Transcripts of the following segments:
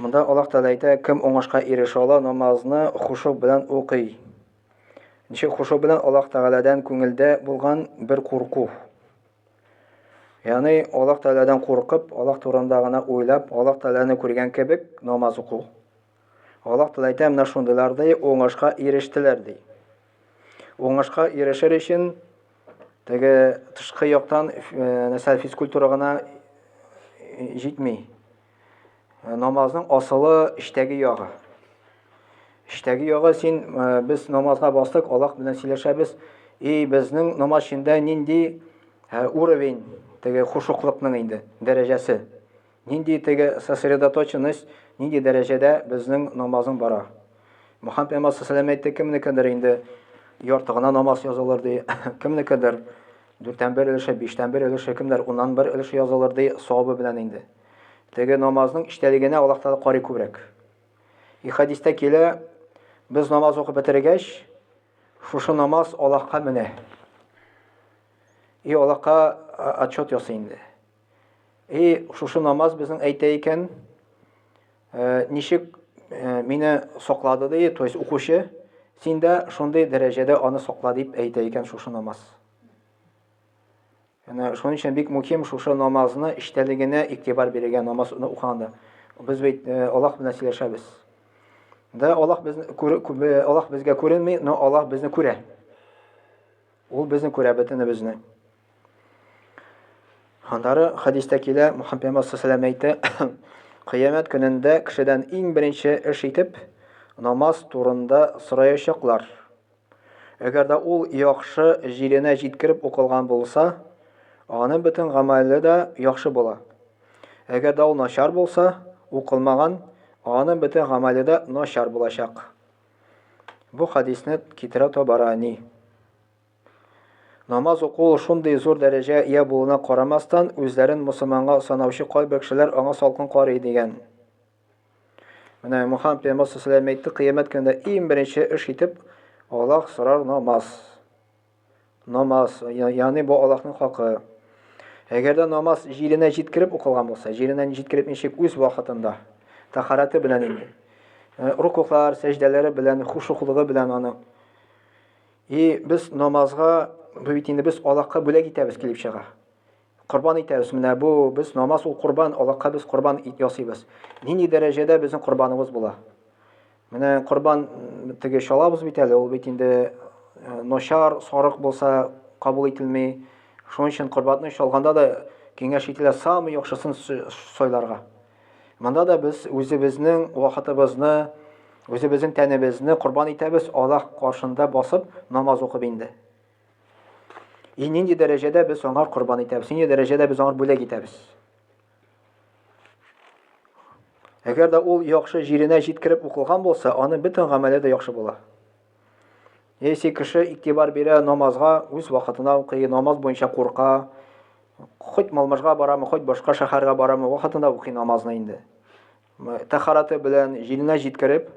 Монда Аллаһ Тәгалә әйтә, кем уңышка ирешә ала, намазны хушу белән укый. Ничек хушу белән Аллаһ Тәгаләдән күңелдә булган бер курку. Ягъни Аллаһ Тәгаләдән куркып, Аллаһ турында гына уйлап, Аллаһ Тәгаләне күргән кебек намаз уку. Аллаһ Тәгалә әйтә, менә шундыйлар ди, уңышка ирештеләр ди. Уңышка ирешер өчен теге тышкы яктан нәрсә физкультура гына җитми. Намазның асылы эчтәге ягы. Эчтәге ягы син без намазга бастык, Аллаһ белән сөйләшәбез. И безнең намаз эчендә нинди уровень теге хушуклыкның инде дәрәҗәсе. Нинди теге сосредоточенность, нинди дәрәҗәдә безнең намазың бара. Мөхәммәд пәйгамбәр саллаллаху әйтте, кемнекедер инде ярты гына намаз язылыр ди, кемнекедер дүрттән бер өлеше, биштән бер өлеше, кемдер уннан бер өлеше язылыр ди, савабы белән инде. Теге намазның иштәлегенә Аллаһ Тәгалә карый күбрәк. И хадистә килә, без намаз укып бетергәч, шушы намаз Аллаһка менә. И Аллаһка отчет ясый инде. И шушы намаз безнең әйтә икән, э, ничек э, мине соклады ди, то есть укучы, син дә шундый дәрәҗәдә аны сокла дип әйтә икән шушы намаз. Яна шуның өчен бик мөһим шушы намазны иштәлегенә игътибар бирергә намаз укыганда. Без бит э, Аллаһ белән сөйләшәбез. Да Аллаһ безне Аллаһ безгә күренми, но Аллаһ безне күрә. Ул безне күрә бөтенебезне. Аннары хәдистә килә, Мөхәммәд пәйгамбәр саллаллаху алейһи әйтә, кыямәт көнендә кешедән иң беренче эш итеп намаз турында сораячаклар. Әгәр дә ул яхшы җиренә җиткереп укылган булса, аның бөтен гамәле дә яхшы була. Әгәр дә ул начар булса, укылмаган, аның бөтен гамәле дә начар булачак. Бу хәдисне китерә Табарани. Намаз уку шундый зур дәрәҗә ия булуына карамастан, үзләрен мусылманга санаучы кайбер кешеләр аңа салкын карый дигән. Менә Мухаммад пәйгамбәр саллаллаһу әйтте, кыямәт көнендә иң беренче эш итеп Аллаһ сорар намаз. Намаз, ягъни бу Аллаһның хакы. Әгәр дә намаз җиренә җиткереп укылган булса, җиренә җиткереп ничек үз вакытында, тахараты белән инде, э, рукуклар, сәҗдәләре белән, хушуклыгы белән аны. И без намазга, бу бит инде без Аллаһка бүләк итәбез килеп чыга. Корбан итәбез. Менә бу без намаз ул корбан, Аллаһка без корбан ит ясыйбыз. Нинди дәрәҗәдә безнең корбаныбыз була? Менә корбан теге шалабыз бит әле, ул бит инде э, ношар, сарык булса кабул ителми. Шуның өчен корбанны шалганда да киңәш ителә самый яхшысын сойларга. Монда да без үзебезнең вакытыбызны, үзебезнең тәнебезне корбан итәбез, Аллаһ каршында басып намаз укып инде. И нинди дәрәҗәдә без аңа корбан итәбез, нинди дәрәҗәдә без аңа бүләк итәбез. Әгәр дә ул яхшы җиренә җиткереп укылган булса, аны бөтен гамәле дә яхшы була. Если кеше игътибар бирә намазга, үз вакытына укый, намаз буенча курка, хоть Малмыжга барамы, хоть башка шәһәргә барамы, вакытында укый намазны инде. Тәһараты белән җиленә җиткереп,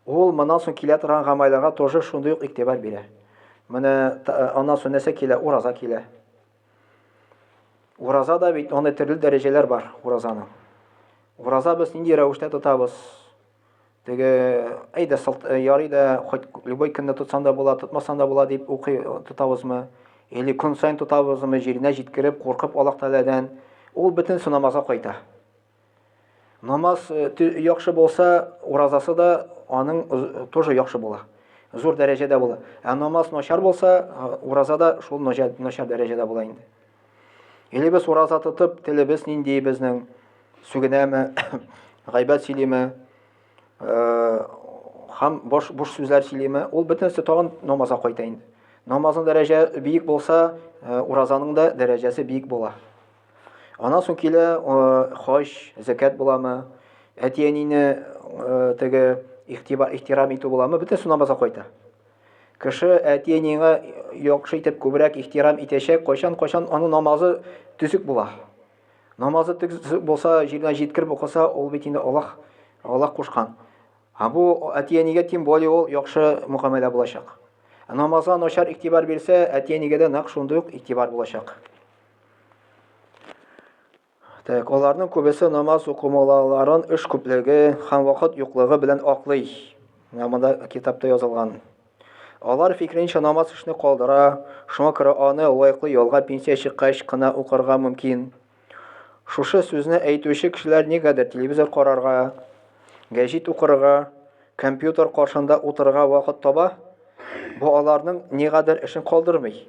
ул моннан соң килә торган гамәлләргә тоже шундый ук игътибар бирә. Менә аннан соң нәрсә килә? Ураза килә. Ураза да бит аны төрле дәрәҗәләр бар уразаның. Ураза без нинди рәвештә тотабыз? Теге әйдә сылт э, ярый да хоть любой көнне тотсаң да була, тотмасаң да була дип укый э, тотабызмы? Или көн сайын тотабызмы, җиренә җиткереп, куркып Аллаһ Тәгаләдән? Ул бөтенесе намазга кайта. Намаз яхшы булса, уразасы да аның тоже яхшы була. Зур дәрәҗәдә була. Ә намаз начар булса, ураза да шул начар дәрәҗәдә була инде. Или без ураза тотып, телебез нинди безнең сүгенәме, гайбәт сөйлиме, һәм бош буш сүзләр сөйлиме, ул бөтенесе тагын намазга кайта инде. Намазның дәрәҗә бик булса, уразаның да дәрәҗәсе бик була. Аннан соң килә хаҗ, зәкят буламы, әти-әнине теге ихтиба ихтирам итү буламы, бөтенесе намазга кайта. Кеше әти-әниеңә яхшы итеп күбрәк ихтирам итәчәк, кайчан-кайчан аның намазы төзек була. Намазы төзек булса, җиренә җиткереп укыса, ул бит инде Аллаһ Аллаһ кушкан. Ә бу әти-әнигә тем более ул яхшы мөхәмәлә булачак. Намазга начар игътибар бирсә, әти-әнигә дә нәкъ шундый ук игътибар булачак. Так, аларның күбесе намаз укымауларын эш күплеге һәм вакыт юклыгы белән аклый. Менә монда китапта язылган. Алар фикренчә намаз эшне калдыра, шуңа күрә аны лаеклы ялга пенсия чыккач кына укырга мөмкин. Шушы сүзне әйтүче кешеләр нигәдер телевизор карарга, гәҗит укырга, Компьютер каршында утырырга вакыт таба, бу аларның нигәдер эшен калдырмый.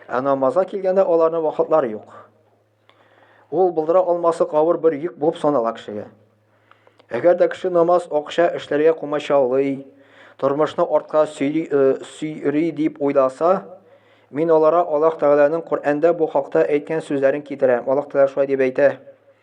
Ә намазга килгәндә аларның вакытлары юк. Ул булдыра алмаслык авыр бер йөк булып санала кешегә. Әгәр дә кеше намаз, акча, эшләргә комачаулый, тормышны артка сөйри э, дип уйласа, мин алара Аллаһ Тәгаләнең Коръәндә бу хакта әйткән сүзләрен китерәм. Аллаһ Тәгалә шулай дип әйтә.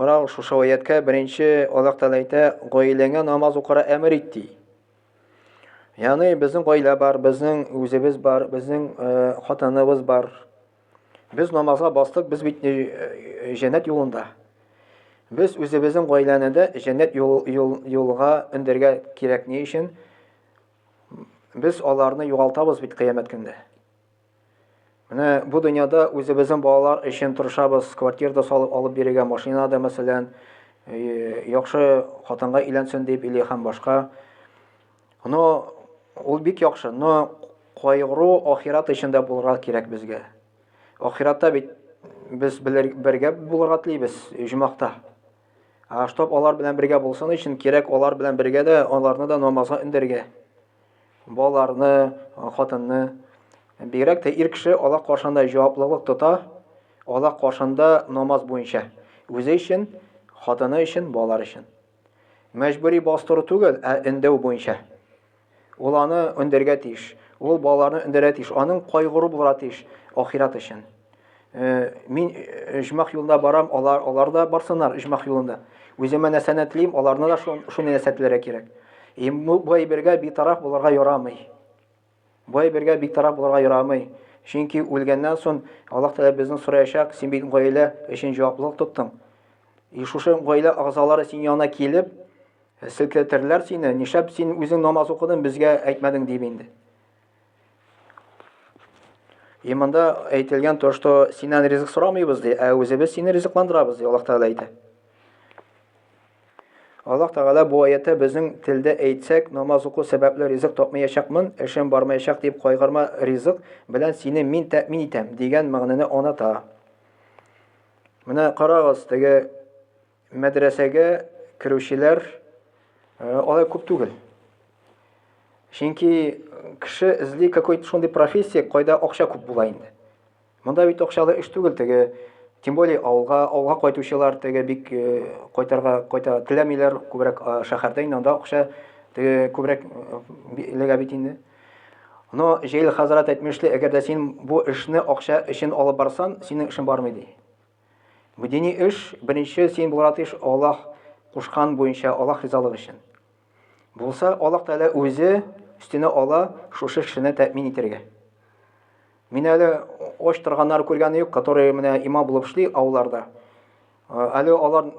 Карау шушы аяткә беренче Аллаһ Тәгалә әйтә, гаиләңә намаз укырга әмер ит ди. Яны безнең гаилә бар, безнең үзебез бар, безнең э, хатыныбыз бар. Без намазга бастык, без бит э, җәннәт юлында. Без үзебезнең гаиләне дә җәннәт юл, юл, юлга өндергә кирәк ни өчен? Без аларны югалтабыз бит кыямәт көндә. Менә бу дөньяда үзебезнең балалар өчен тырышабыз, квартирда салып алып бирергә, машина да, мәсәлән, э, яхшы хатынга иләнсен дип или һәм башка. Но ул бик яхшы, но кайгыру ахират өчен дә булырга кирәк безгә. Ахиратта бит без бергә булырга телибез җумахта. А чтоб алар белән бергә булсын өчен кирәк алар белән бергә дә аларны да намазга өндергә. Балаларны, хатынны, бигрәк тә ир кеше Аллаһ каршында җаваплылык тота, Аллаһ каршында намаз буенча, үзе өчен, хатыны өчен, балалар өчен. Мәҗбүри бастыру түгел, ә өндәү буенча. Ул аны өндәргә тиеш, ул балаларны өндәргә тиеш, аның кайгыру булырга тиеш ахират өчен. Э, мин э, ижмах юлында барам, алар, алар да барсынар ижмах юлында. Үземә нәрсәне телим, аларны да шуны нәрсә теләргә кирәк. И бу бергә битараф булырга ярамый. Бу бергә битараф булырга ярамый. Чөнки үлгәннән соң Аллаһ Тәгалә безне сораячак, син бит гаилә өчен җаваплылык тоттың. И шушы гаилә агзалары син янына килеп, э, селкетерләр сине, нишләп син үзең намаз укыдың, безгә әйтмәдең дип инде. И монда әйтелгән то, что синнән ризык сорамыйбыз ди, ә үзебез сине ризыкландырабыз ди, Аллаһ Тәгалә әйтә. Аллаһ Тәгалә бу аятта безнең телдә әйтсәк, намаз уку сәбәпле ризык тапмаячакмын, эшем бармаячак дип кайгырма, ризык белән сине мин тәэмин итәм дигән мәгънәне оныта. Менә карагыз, теге Мәдрәсәгә керүчеләр э, алай күп түгел. Чөнки кеше эзли какой-то шундый профессия, кайда акча күп була инде. Монда бит акчалы эш түгел теге, тем более авылга, авылга кайтучылар теге бик э, кайтарга кайта теләмиләр, күбрәк э, шәһәрдә инде анда акча теге күбрәк элегә бит инде. Но Җәйле хәзрәт әйтмешли, әгәр дә син бу эшне акча өчен алып барсан, синең эшең бармый ди. Бу дини эш, беренче син булырга тиеш Аллаһ кушкан буенча, Аллаһ ризалыгы өчен. Булса, Аллаһ Тәгалә үзе өстенә ала шушы кешене тәэмин итәргә. Мин әле оч торганнар күргәне юк, которые менә има булып эшли авылларда. Э, әле алар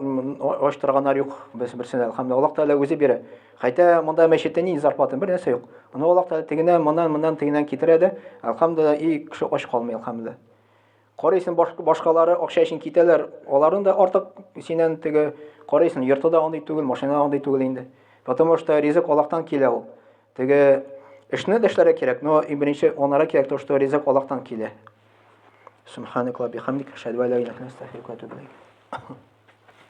оч торганнар юк без берсенә, әлхәмдулилла. Аллаһ Тәгалә үзе бирә. Хәтта монда мәчеттә ни зарплата, бер нәрсә юк. Аны Аллаһ Тәгалә тегенә, моннан, моннан, тегеннән китерә дә, әлхәмдулилла, и кеше оч калмый, әлхәмдулилла. Карыйсың, башкалары акча өчен китәләр, аларны да артык синен теге карыйсың, йорты да андый түгел, машина да андый түгел инде. Потому что ризык Аллаһтан килә ул. Теге эшне дәшләре кирәк, но и беренче анара кирәк то, что ризык Аллаһтан килә. Субханакла бихамдик, шәдва ла илаһ иллә антә,